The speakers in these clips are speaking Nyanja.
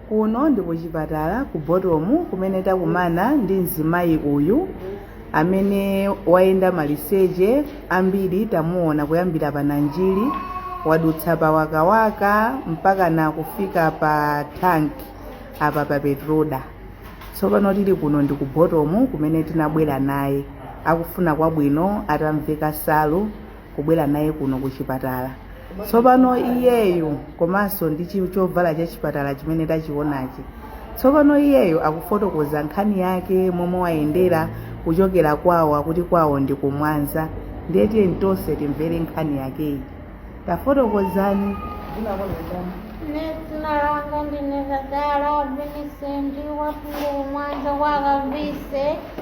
Kuno ndi kuchipatala ku Botomu kumene takumana ndi mzimayi uyu amene wayenda maliseche ambiri tamuona kuyambira pa Nanjiri wadutsa pa Wakawaka mpaka na kufika pa tank apa pa Petroda. Tsopano tili kuno ndi ku Botomu kumene tinabwera naye akufuna kwabwino atamveka salu kubwera naye kuno ku chipatala tsopano iyeyu komanso ndi chovala cha chipatala chimene tachionachi tsopano iyeyu akufotokoza nkhani yake momwe wayendera kuchokera kwawo akuti kwawo ndi ku Mwanza ndiye tiyeni tonse timvere nkhani yakeyi tafotokozani Ine dzina langa ndine Tadala Vincent wafuko ku Mwanza kwa Kavise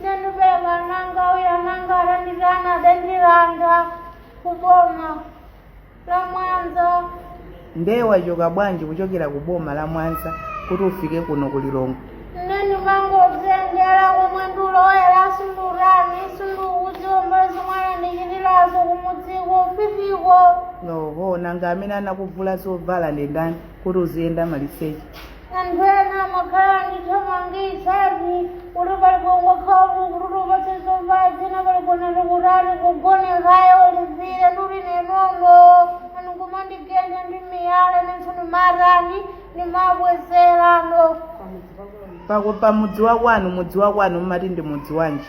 ndinabeleka mwana wanga uja mwana wanga ananditana adandilanda kuboma la mwanza nde wachoka bwanji kuchokera ku boma la mwanza kuti ufike kuno ku lilongwe ne ndimangozengera komwe ndikulowera sundurani sindukuziwa zimwanandichitirazo kumudziko fifiko oho nanga amene anakuvula zovala ndi ndani kuti uziyenda maliseche Anthu ena amakhala akundithamangitsa ati kuti pali kungokhala kuti tikupatse zovala zina pali kunati kuti ati ugone kaye ulipire ndiye uli ine nono ndi kumandigenda ndi miyala nenso ndimatani ndimabwezerano pa mudzi wa kwanu mudzi wa kwanu mumati ndi mudzi wanji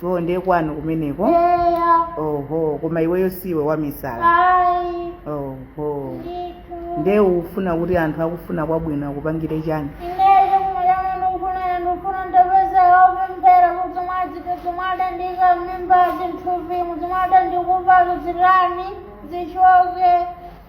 chonde kwanu kumeneko Eya. oho koma iweyo siwe wamisala Ayi. oho Ndithu. nde ukufuna kuti anthu akufuna kwabwino akupangire chani Ineyo kumuyana ndikufuna ndikufuna andipezere opemphera kuti mwadzite zimwadandiika m'mimba m'thupimo zimwadandikupazo zitani zichoke.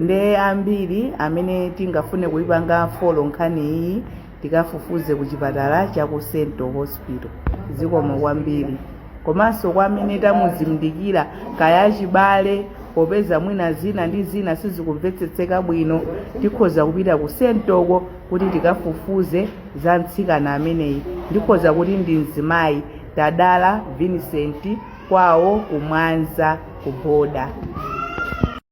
nde ambiri amene tingafune kuipanga folo nkhani iyi tikafufuze ku chipatala cha ku central hospital zikomo kwambiri komanso kwa amene tamuzindikira kaya achibale popeza mwina zina ndi zina sizikumvetsetseka bwino tikhoza kupita ku sentoko kuti tikafufuze za mtsikana ameneyi ndikhoza kuti ndi mzimayi tadala vincent kwawo kumwanza ku boda